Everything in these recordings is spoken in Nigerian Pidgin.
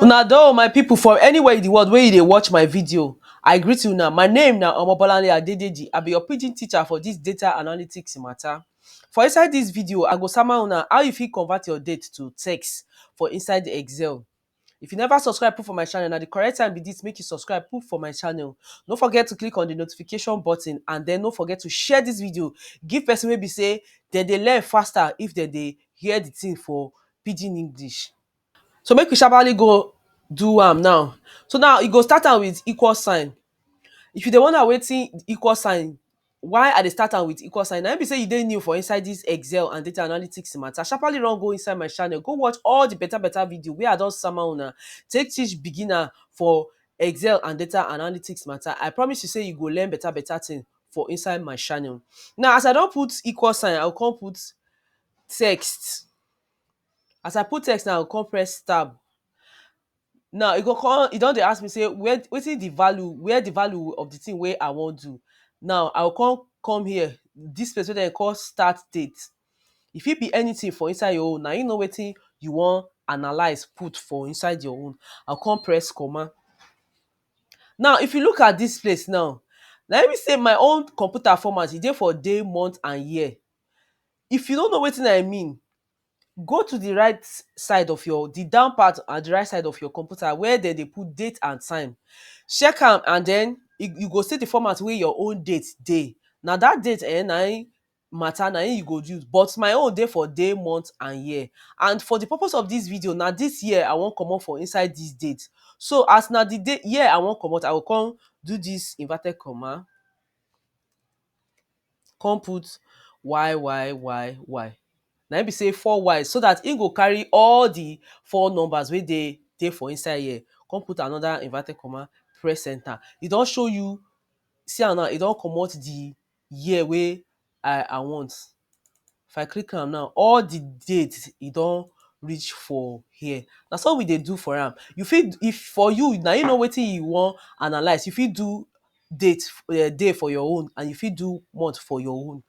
una don my people from anywhere in the world wey you dey watch my video i greet you now my name na omobolanle adedeji i be your pidgin teacher for this data analytics matter for inside this video i go sama una how you fit convert your date to text for inside excel If you never subscribe put for my channel, na the correct time be this make you subscribe put for my channel. No forget to click on the notification button and then no forget to share this video give person wey be say dem dey learn faster if dem dey hear the thing for pidgin English. So make we sharparly go do am now. So now you go start am with equal sign. If you dey wonder wetin equal sign Why I dey start am with equal sign, na im be sey you dey new for inside dis excel and data analytics matter, sharpaly run go inside my channel go watch all de better better video wey I don sama una take teach beginner for excel and data analytics matter. I promise you sey you go learn better better thing for inside my channel. Now as I don put equal sign, I go come put text, as I put text now, I go come press tab. Now e go come e don dey ask me sey where wetin the value where the value of the thing wey I wan do now I go come come here this place wey dem dey call start date e fit be anything for inside your own na him know wetin you wan analyse put for inside your own I go come press comma now if you look at this place now na him be sey my own computer format e dey for day month and year if you no know wetin I mean Go to the right side of your, the down part at the right side of your computer where dem dey put date and time. Check am and den you go see the format wey your own date dey. Na dat date um na im matter, na im you go use. But my own dey for day, month and year. And for the purpose of dis video, na dis year I wan comot for inside dis date. So as na the date, year I wan comot, I go con do dis inverted comma. come put y y y y na im be sey four y so dat im go carry all di four numbers wey dey dey for inside here come put another inverted comma press enter e don show you see am now e don comot di year wey I I want If I click am now, all the date e don reach for here. Na so we dey do for am. You fit if for you, na you know wetin you wan analyse. You fit do date um day for your own and you fit do month for your own.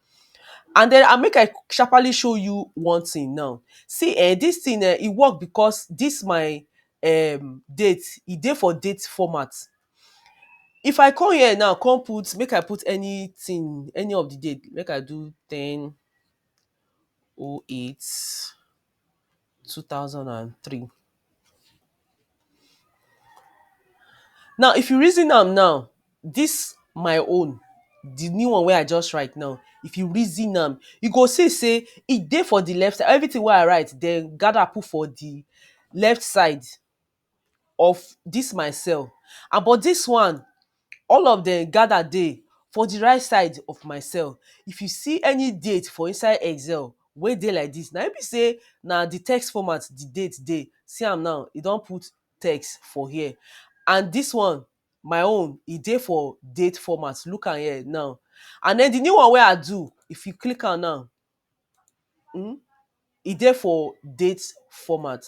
And den and make I sharpaly show you one thing now. See um dis thing um e work because dis my um date, e dey for date format. If I come here now come put make I put anything any of the date make I do ten o eight two thousand and three Now if you reason am now this my own the new one wey I just write now if you reason am you go see sey e dey for the left side everything wey I write dem gather put for the left side of dis my cell and but dis one all of dem gather dey for di right side of my cell. If you see any date for inside excel wey dey like dis na im be sey na di text format di date dey, see am now e don put text for here and dis one my own e dey for date format look am here now and den di new one wey I do if you click am now um e dey for date format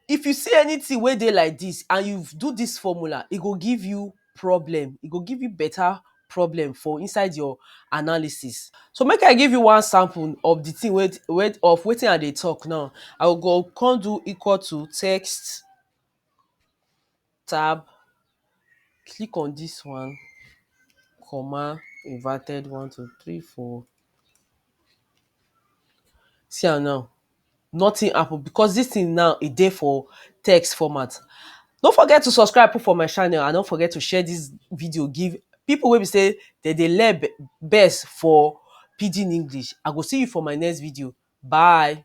if you see anything wey dey like this and you do this formula e go give you problem e go give you better problem for inside your analysis so make i give you one sample of the thing wey wey of wetin i dey talk now i go come do equal to text tab, click on dis one, comma, inverted one, two, three, four. See am now, nothing happen because dis thing now e dey for text format. No forget to subscribe put for my channel and no forget to share dis video give pipu wey be sey dem dey learn best for pidgin English. I go see you for my next video. Bye.